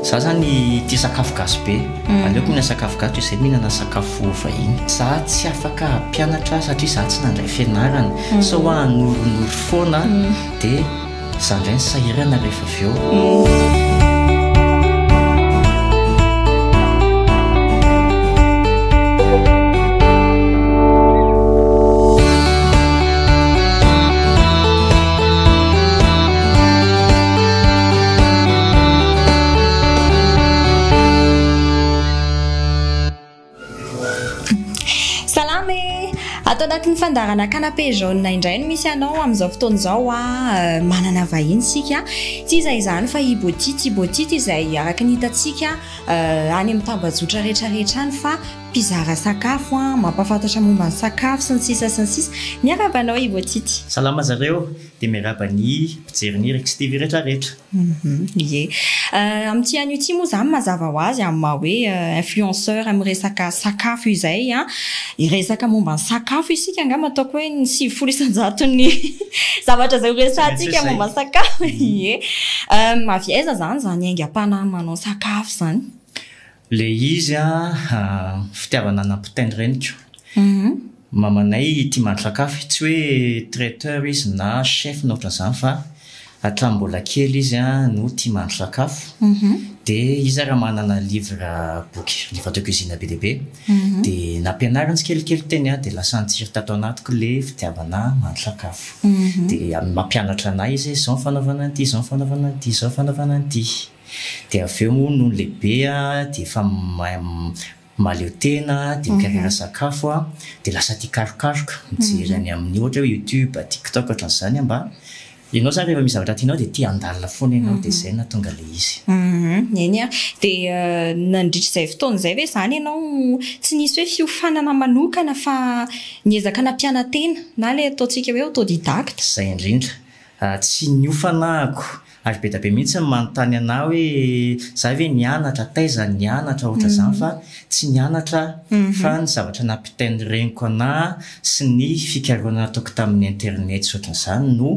Za zany tia sakafo gasy be, aleoko mihinana sakafo gasy toy izay mihinana sakafo vahiny. Za tsy afaka hampianatra satria za tsy nandray fianarana, sao hoa hanorinoriy foana dia za indray no sahirana rehefa avy eo. Salama e! Ato anatin'ny fandaharana canapé jaune indray no misy anao amin'izao fotoana izao a, euh, manana vahiny isika, tsy iza izany fa i Botity, i Botity izay araka ny hitantsika euh, any amin'ny tambajotra rehetra rehetra any fa mpizara sakafo an, mampahafantatra momba ny sakafo sy ny sisa sy ny sisa, miarahaba anao i Botity. Salama zareo. Dia miarahaba ny mpijery ny Rix TV retraretra. Ie. Amin'ity anio ity moa izany mazava ho azy amin'ny maha hoe influenceur amin'ny resaka sakafo izay. Hiresaka momba ny sakafo isika angamba ataoko hoe ny sivifolo isan-jaton'ny zavatra izay horesahantsika momba ny sakafo. Ie. Avy aiza izany izany aingam-panahy manao sakafo izany? Le izy a fitiavana nampitainy reniko. Mamanay tia mahandro sakafo, tsy hoe traiteur izy na chef na ohatran'izany fa hatramin'ny mbola kely izy a no tia mahandro sakafo. De izy ary manana livre boky livre de cuisine be dia be. De nampianariny tsikelikely teny a de lasa nitsiry tato anatiko le fitiavana mahandro sakafo. De mampianatra anay izy hoe zao ny fanaovana an'ity, zao ny fanaovana an'ity, zao ny fanaovana an'ity. dia avy eo moa nony lehibe dia efa mahaleo tena dia mikarera sakafo dia lasa tia karokaroka mijery any amin'ny ohatra hoe youtube, tiktok ohatran'izany mba ianao zany rehefa misy zavatra tianao dia tia handalina foana ianao dia izay no nahatonga ilay izy. Eny an, dia nandritra izay fotoana izay ve izany ianao tsy nisy hoe fiofanana manokana fa niezaka nampiana-tena na ilay ataontsika hoe autodidacte? Izay indrindra, tsy niofana ako. Ary be da be mihitsy ny manontany anah hoe zah ve nianatra, taiza nianatra ohatra zany fa tsy nianatra aho fa ny zavatra nampitain'ny reniko anah sy ny fikarohana nataoko tamin'ny internet sy ohatra zany no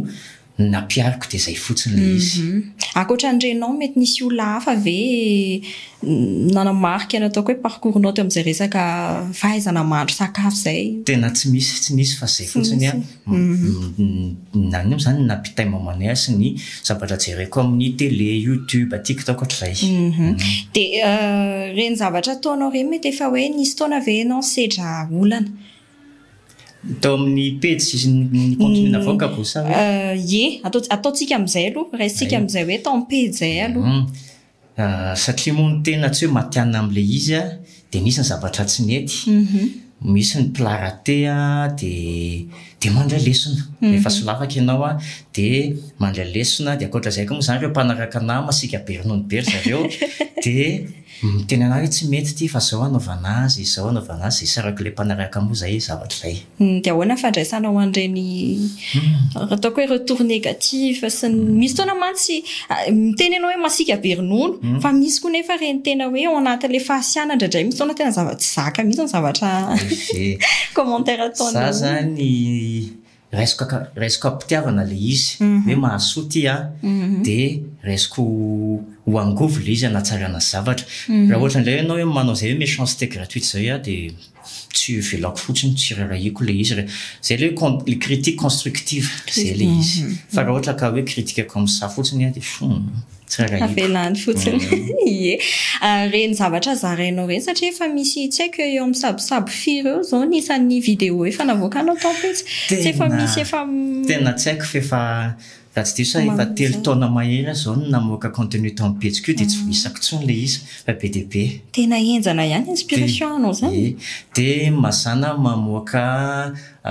nampiariko dia zay fotsiny le izy. Ankoatra ny renao mety nisy olona hafa ve nanamarika ny ataoko hoe parcours-nao teo amin'izay resaka fahaizana mahandro sakafo zay? Tena tsy misy, tsy nisy fa zay fotsiny an. Nany moa zany nampitainy mamanay ahy sy ny zavatra jereko amin'ny tele, youtube, tiktok ohatr'izay. Dia ireny zavatra ataonao ireny mety efa hoe nisy taona ve ianao sedra olana? Tao amin'ny pejy sy ny contenu navoakako sa hoe? Ie, ataontsika amin'izay aloha, raisintsika amin'izay hoe tao amin'ny pejy izay aloha. Satria moa ny tena tsy hoe matihanina amin'ilay izy an, dia misy ny zavatra tsy mety, misy ny plat raté an, dia dia mandray lesona. Rehefa solafaka ianao an, dia mandray lesona, dia ankoatra izay koa moa izany ireo mpanaraka anà masiaka be ronono be ry zareo, dia miteny anà hoe tsy mety ity fa izao anaovana azy, izao anaovana azy, izay isarak'ilay mpanaraka moa izay zavatra izay. Dia ahoana ny fandraisana ho an'ireny ataoko hoe retour négatif sy ny. Misy fotoana mantsy miteny ianao hoe masiaka be ronono fa misy koa nefa ireny tena hoe ao anatin'ilay fahasiahana indraindray misy fotoana tena zava tsy zaka mihitsy ny zavatra commentaire ataon'ny olona. Za zany raisiko ka raisiko am-pitiavana ilay izy hoe mahasoa ity a dia raisiko ho angovo ilay izy hanatsarana zavatra. Raha ohatra indray ianao hoe manao izay hoe méchanceté gratuite izay a dia. Tsy hovelako fotsiny ho tsirairay-ko ilay izy re. Izay ilay hoe con- critique constructive, izay ilay Critique, izy. mhm. Fa raha ohatra ka hoe critique comme ça fotsiny an, dia fo, tsirairay-ko. Avelany fotsiny. Mm. Ie. Ah, Ireny zavatra zarainao ireny satria efa misy tsy haiko eo amin'ny sabosabo firy eo izao ny isan'ny vidéo efa navoakanao taom-pitsy. Tsy efa Tena- misy efa Tena tsy haiko fa efa Raha tsy diso aho efa telo taona mahery aho izao no namoaka contenu tao amin'ny pejiko io dia tsy voaisako intsony ilay izy fa be dia be. Tena henjana ihany inspiration anao izany e. Dia mazàna aho mamoaka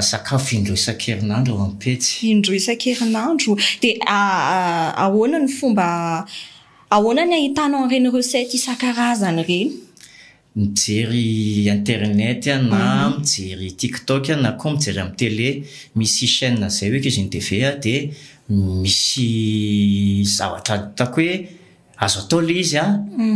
sakafo indroa isan-kerinandro ao amin'ny pejy. Indroa isan-kerinandro. Dia ahoana ny fomba, ahoana ny ahitanao an'ireny recette isan-karazany ireny? mijery internet a na mijery tiktok a na koa mijery amin'ny tele misy chaine zay hoe kizy ny TV a de misy zavatra ataoko hoe azo atao le izy a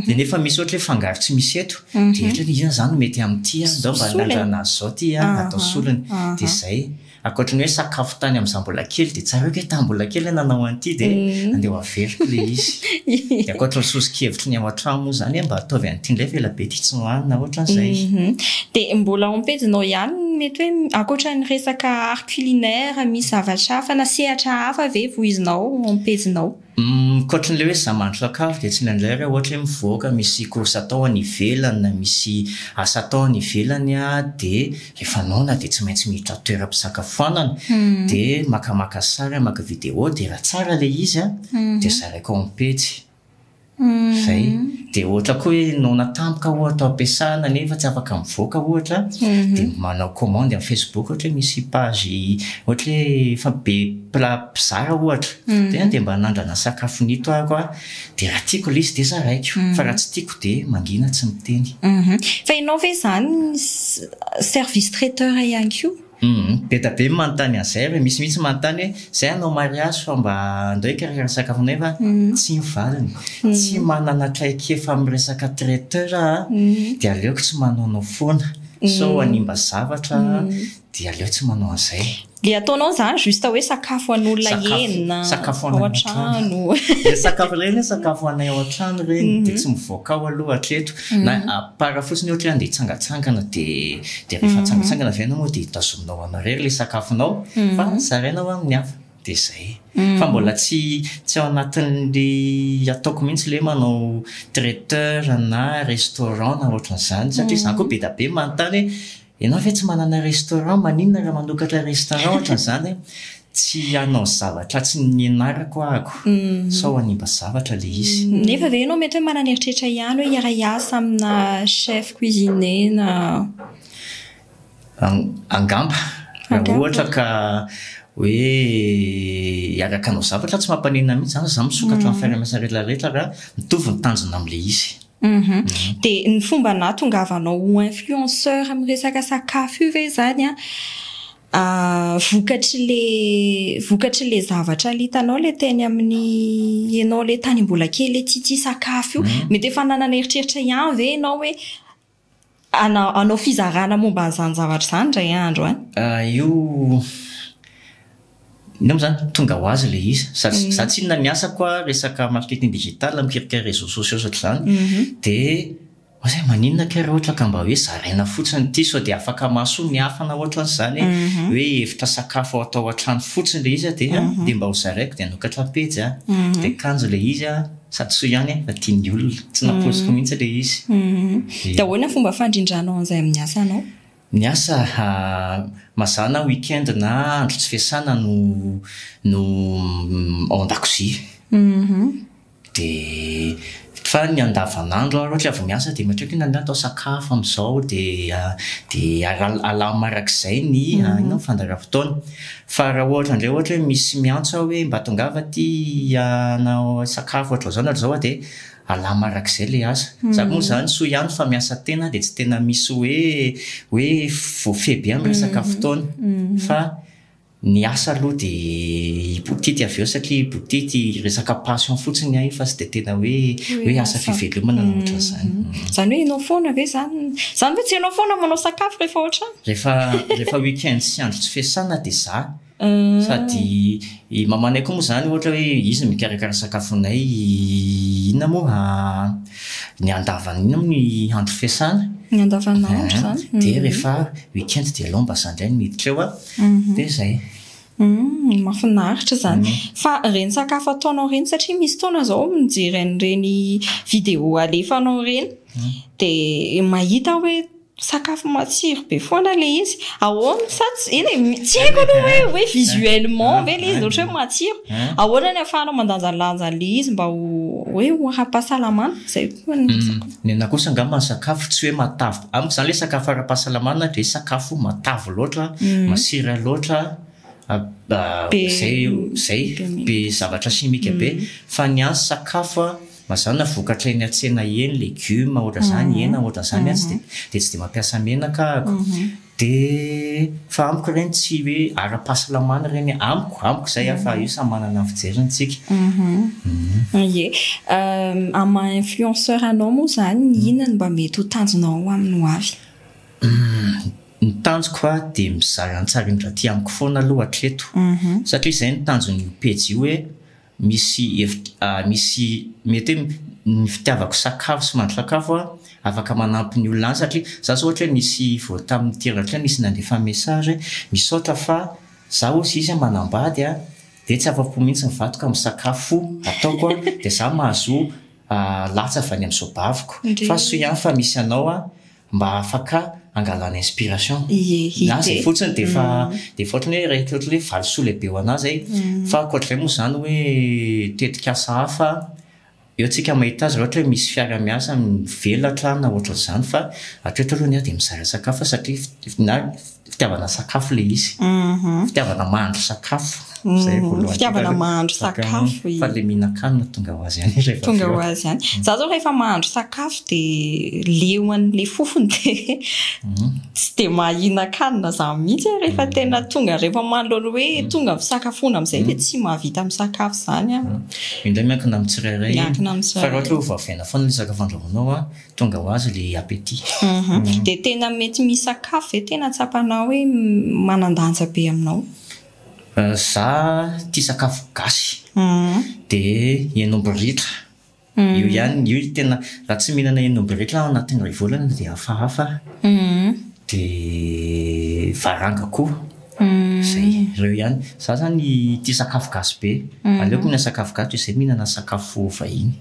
de nefa misy ohatra hoe fangaro tsy misy eto de ohatra hoe iza zany no mety amin'ity a ndao mba anandrana azy zao ty a atao solony de zay. Ankoatry ny hoe sakafo tany amin'izaho mbola kely dia tsaroako hoe tamin'ny mbola kely aho nanao an'ity dia andeha ho averiko ilay izy. Dia ankoatry ny soso-kevitry ny ao an-trano moa izany hoe mba ataovy an'ity indray fa ela be ity tsy nohanina ohatrany izay. Dia mbola ao am-pejinao ihany ny mety hoe ankoatra ny resaka art culinaire misy zavatra hafa na sehatra hafa ve voizinao ao am-pejinao? Ankoatran'ilay hoe za mahandro sakafo dia tsy indraindray ary aho ohatra hoe mivoaka misy course atao any ivelany na misy asa atao any ivelany aho dia rehefa noana dia tsy maintsy miditra toeram-pisakafoanana dia makamaka sary aho, maka vidéo dia raha tsara ilay izy an dia zaraiko ao amin'ny pejy. Izay. Dia ohatra koa hoe noana tampoka ohatra ao am-piasana nefa tsy afaka mivoaka ohatra dia manao commande amin'ny facebook ohatra hoe misy page ohatra hoe efa be mpila- mpizara ohatra. Dia na dia mba nandrana sakafo nito ary aho dia raha tiako ilay izy dia zaraiko, fa raha tsy tiako dia mangina tsy miteny. Fa ianao ve izany service traiteur ihany koa? Be dia be ny manontany an'izay ary misy mihitsy manontany hoe izay hanao mariazy fa mba andao hikarakara sakafo anay va? Tsy ny valiny. Tsy manana traikefa amin'ny resaka traiteur aho dia aleoko tsy manaonao foana sao hanimba zavatra dia aleo tsy manao an'izay. Le ataonao zany juste hoe sakafo an'olona enina sakafo ao an-trano. Le sakafo ireny hoe sakafo anay ao an-trano ireny mhm. dia tsy mivoaka ao aloha hatreto. Mhm. Na apara ah, fotsiny ohatra hoe andeha hitsangatsangana dia dia rehefa mhm. tsangatsangana avy ianao moa dia tazominao ao anareo ilay sakafonao fa zaraina ho amin'ny hafa. Dia izay. Fa mbola tsy tsy ao anatin'ny ataoko mihitsy le manao traiteur na restaurant na ohatran'izany satria izaho koa be dia be manontany hoe Enao ve tsy manana restaurant maninona raha manokatra restaurant ohatrany zany tsy hanao zavatra tsy nianarako ahako sao hanimba zavatra le izy. Nefa ve enao mety hoe manana eritreritra ihany hoe hiara hiasa amina chef cuisine na. Angamba raha ohatra ka hoe hiaraka hanao zavatra tsy mampanenina mihitsy zany fa za misokatra amin'ny fiaraha miasa rehetra rehetra raha mitovy ny tanjona amle izy. Uhum. Dia ny fomba nahatongavanao ho influenceur amin'ny resaka sakafo io ve izany an, ah, vokatry le vokatry le zavatra le hitanao le teny amin'ny ianao le tany mbola kely le tsy tia sakafo io? Mety efa nanana eritreritra ihany ve ianao hoe Hanao fizarana momba an'izany zavatra izany indray andro an! Io, inona moa izany? Tonga ho azy ilay izy. Za tsy, za tsy inona ny asako an, resaka marketing digital, mikirikira réseaux sociaux sy ohatr'izany. Dia, oa zay maninona kay raha ohatra ka mba hoe zaraina fotsiny ity sao dia afaka mahasoa ny hafa na ohatr'izany e! Hoe hevitra sakafo atao an-trano fotsiny ilay izy an, dia dia mba ho zaraiko dia hanokatra pejy an! Dia kanjo ilay izy an! Sady soa ihany fa tia ny olona. Tsy nampoiziko mihitsy ilay izy. Dia ahoana fomba fandrindranao an'izay amin'ny asanao? Ny asa, mazàna week-end na andro tsy fiasana no no ao an-dakozia. Dia fa ny andavanandro ary ohatra avy miasa dia matreko inona ny atao sakafo amin'izao dia dia alamina arak'izay ny inona ny fandaharam-potoana. Fa raha ohatra indray ohatra hoe misy miantso aho hoe mba tongava aty hanao sakafo ohatr'izao na ohatr'izao dia alama araka izay ilay asa. Za moa izany soa ihany fa miasa tena aho dia tsy tena misy hoe hoe voafehy be amin'ny resaka fotoana fa ny asa aloha dia hibotity avy eo satria hibotity resaka passion fotsiny ahy fa tsy dia tena hoe hoe asa fivelomana na ohatr'izany. Izany hoe ianao foana ve izany? Izany ve tsy ianao foana manao sakafo rehefa ao an-trano? Rehefa rehefa week-end sy andro tsy fiasana dia za. Sady i mamanay koa moa izany ohatra hoe izy no mikarakara sakafonay, inona moa ny andavan'ny inona moa ny andro fiasana? Ny andavanandro izany. Dia rehefa week-end dia aleo mba za indray no miditra eo dia izay. Mahafinaritra izany. Fa ireny sakafo ataonao ireny satria misy fotoana izao mijery an'ireny vidéo alefanao ireny dia mahita aho hoe Sakafo matsiro be foana ilay izy. Ahoana sa tsy eny e, tsy haiko aloha hoe hoe visuellement ve ilay izy ohatra hoe matsiro. Ahoana no ahafahanao mandanjalanja an'ilay izy mba ho hoe ho ara-pahasalamana? Izay koa no resaka. Ny anahy kosa angamba ny sakafo tsy hoe matavy, amiko izany ilay sakafo ara-pahasalamana dia sakafo matavy loatra, masira loatra, izay izay, be zavatra simika be, fa ny ahy sakafo a. Mazàna vokatra eny an-tsena eny, legioma ohatran'izany, hena ohatran'izany atsy dia dia tsy dia mampiasa menaka ahako. Dia fa amiko ireny tsy hoe ara-pahasalamana ireny e, amiko, amiko izay a, fa io samy manana ny fijeriny tsika. Ie. Amin'ny maha influenceur anao moa izany, inona no mba mety ho tanjonao amin'ny ho avy? Ny tanjoko a dia mizara ny tsarindran'ity amiko foana aloha hatreto. Satria izay no tanjon'io pejy io hoe. Misy hevitra, misy mety hoe ny fitiavako sakafo sy mandry sakafo a, afaka manampy ny olona any satria za zao ohatra hoe misy vao tamin'ny teraka kely misy nandefa message hoe misaotra fa za hozy izy manambady a, dia tsy afa-po mihitsy ny vadiko amin'ny sakafo ataoko a, dia za mahazo latsa avy any amin'izao baviko, fa soa ihany fa misy anao a, mba afaka angalana inspiration na zay fotsiny dia efa dia efa ohatran'ny hoe ireto ohatran'ny hoe valisoa lehibe ho anah zay fa ankoatr'izay moa izany hoe tetikasa hafa eo tsika mahita azy raha ohatra hoe misy fiara miasa mivelatra na ohatran'izany fa hatreto aloha ny ahy dia mizara sakafo aho satria na Fitiavana sakafo ilay izy. Mhm. Fitiavana mahandro sakafo. Mm, Izay voalohany. fitiavana Tonga- mahandro Sakafo. sakafo i- Fa ilay mihinan-kanina tonga ho azy ihany ilay tonga ho vaovao. azy ihany za zao rehefa mahandro sakafo dia leo an'ilay fofony dia Mhm. tsy dia mahinan-kanina za mihitsy aho rehefa tena tonga rehefa manoloana hoe tonga fisakafoana amin'izay dia tsy mahavita misakafo izany aho Indray miankina amin'ny tsirairay. Miankina amin'ny tsirairay. Fa raha ohatra hoe ho vavaina foana ilay sakafo andrahoinao a, Tonga ho azy le appétit. Dia tena mety misakafo ve tena tsapanao hoe manandanja be aminao? Za tia sakafo gasy dia hen'omby ritra io ihany io tena raha tsy mihinana hen'omby ritra aho anatin'ny iray volana dia hafahafa dia varanga koa. Zay, reo ihany. Za zany tia sakafo gasy be. Aleoko mihinana sakafo gasy toy izay mihinana sakafo vahiny.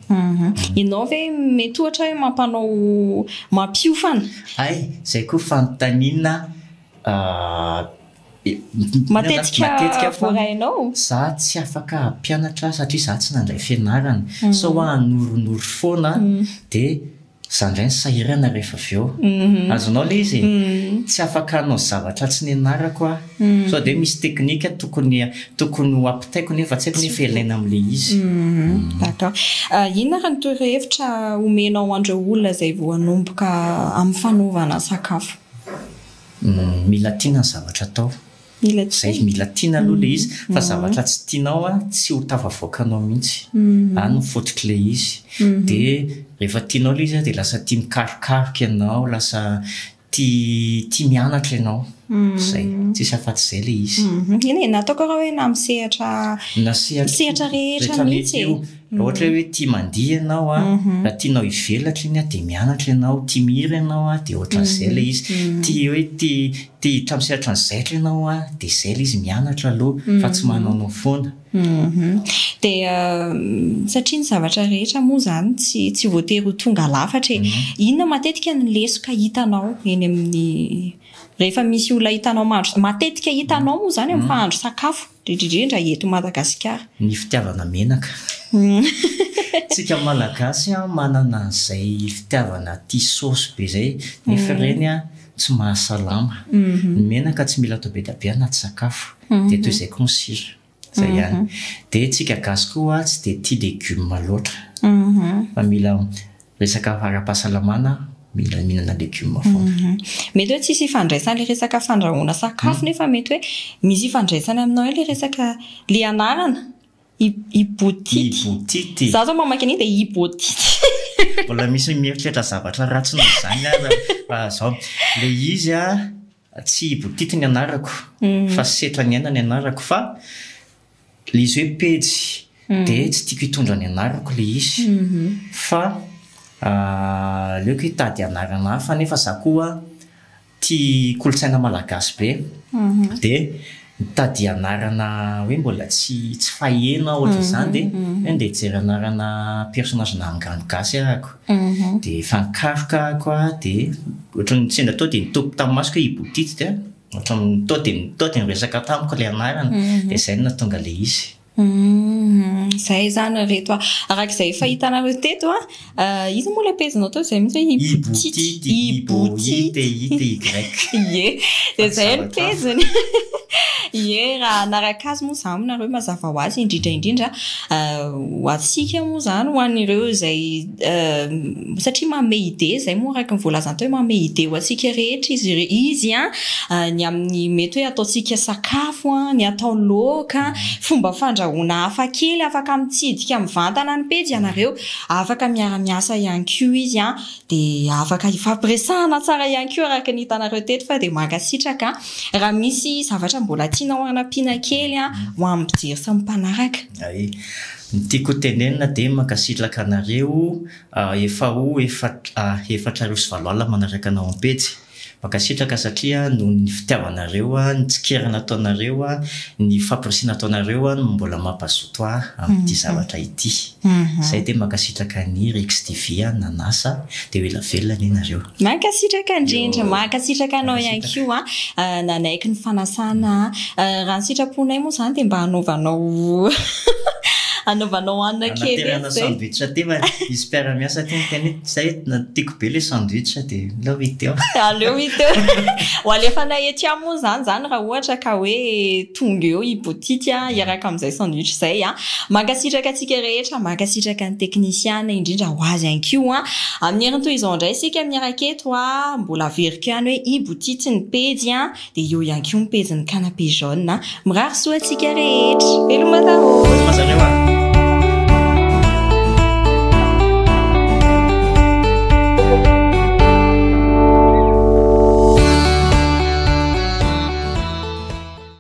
Ianao ve mety ohatra hoe mampanao mampiofana? Hay, zay koa fanontaniana matetika fa za tsy afaka hampianatra satria za tsy nandray fianarana. Sao aho hanorinori foana dia Za ndray ny sahirana rehefa avy eo. Azonao le izy e. Tsy afaka hanao zavatra tsy nianarako aho. Sao dia misy teknika tokony tokony ho ampitaiko nefa tsy haiko nefa ilaina amin'ilay izy. D'accord. Inona ary ny torohevitra omenao an'ireo olona izay vao hanomboka amin'ny fanaovana sakafo? Mila tiana ny zavatra atao. Izay mila tiana aloha ilay izy, fa zavatra tsy tianao an, tsy ho tafavoakanao mihitsy. Any no fototr'ilay izy. Dia rehefa tianao ilay izy an, dia lasa tia mikarokaroka ianao, lasa tia tia mianatra ianao. Izay. Tsisy afa-tsy izay ilay izy. Eny e, na ataoko arô hoe na amin'ny sehatra Na sehatra sehatra rehetra rehetra mihitsy mety e. io. Raha ohatra hoe hoe tia mandihy ianao an, raha tianao hivelatra iny an, dia mianatra ianao, tia mihira ianao an, dia ohatran'izay ilay izy. Tia hoe tia Te hiditra am sehatry ny zaitra ianao an de zay le izy mianatra aloha fa tsy manaonao foana. Hum dia satria ny zavatra rehetra moa izany tsy tsy voatery ho tonga lafatra e. Inona matetika ny lesoka hitanao eny amin'ny rehefa misy olona hitanao mahandro matetika hitanao moa izany amin'ny mpahandro sakafo? Dridridrindra eto Madagasikara. Ny fitiavana menaka. Tsika malagasy an manana an'izay fitiavana tia saosy be zay nefa ireny an tsy mahasalama. Ny menaka tsy mila atao be dia be anaty sakafo dia toy izay koa ny sira. Zay ihany. Dia tsika gasy koa an tsy dia tia legume loatra fa mila Resaka ara-pahasalamana mila mihinana legioma foana. Mety hoe tsisy ifandraisany ilay resaka fandrahoana sakafo nefa mety hoe misy ifandraisany aminao eo ilay resaka ilay anarana Ibotite. Ibotite. Za zao mamaky an'iny dia Ibotite. Mbola misy mieritreritra zavatra ratsy noho izany aza fa zao. Ilay izy an. Tsy boutique ny anarako fa setra ny aina ny anarako fa le izy hoe pejy dia tsy tiako hitondra ny anarako le izy fa aleoko hitady anarana hafa nefa za koa tia kolontsaina malagasy be dia Mitady anarana hoe mbola tsy tsy faheno aho ohatra izany dia hoe ndeha hijery anarana personnage na angano gasy ary ako dia efa nikaroka ako dia ohatra ny sendra tao dia nitopy tamin'ny masoko hoe i Boudite dia ohatra ny tao dia tao dia niresaka tamiko ilay anarana dia izay no nahatonga ilay izy. Humm zay izany ry reto a! araka izay efa hitanareo teto a, iza moa ilay pejinao teo izay mihitsy hoe Iboutique, Iboutique, ie, dia izay ny pejiny, ie, raha hanaraka azy moa izany nareo mazava ho azy, indrindra indrindra ho antsika moa izany, ho an'ireo izay. satria manome idée izay moa araka ny voalazany teo hoe manome idée ho antsika rehetra izy izy an ny amin'ny mety hoe ataontsika sakafo an ny atao laoka fomba fandrahoana hafa kely afaka mitsidika mivantana ny pejy ianareo afaka miara-miasa ihany koa izy an dia afaka hifampiresahana tsara ihany koa araka ny hitanareo teto fa dia mankasitraka raha misy zavatra mbola tianao hanampiana kely an ho amin'ny mpijery sy ny mpanaraka Ny tiako ho tenenina dia mankasitraka anareo efa ho efatra arivo sy valo alina manaraka anao am-pejy. Mankasitraka satria noho ny fitiavanareo, ny tsikerana ataonareo, ny famporisihana ataonareo no mbola mampazoto ahy amin'ity zavatra ity. Izay dia mankasitraka an'i Rixtv nanasa dia ho ela velona anie nareo. Mankasitraka indrindra, mankasitraka anao ihany koa nanaiky ny fanasana. Raha ny sitraponay moa izany dia mba hanaovanao anaovanao hanina kely etsy Hanaterana izay. sandwich aty fa hisy mpiara-miasa aty miteny hoe izay na tiako be ilay sandwich dia aleo hita eo. Aleo hita eo. Ho alefanay ety ihany moa izany izany raha ohatra ka hoe Tonga eo i Boutique hiaraka amin'izay sandwich izay. Mankasitraka antsika rehetra, mankasitraka ny teknisiana indrindra ho azy ihany koa. Amin'ny heriny toy izao indray isika miaraka eto, mbola averiko ihany hoe i Boutique ny pejy dia eo ihany koa ny pejin'ny Canapé Jaune. Mirary soa antsika rehetra. Veloma daholo.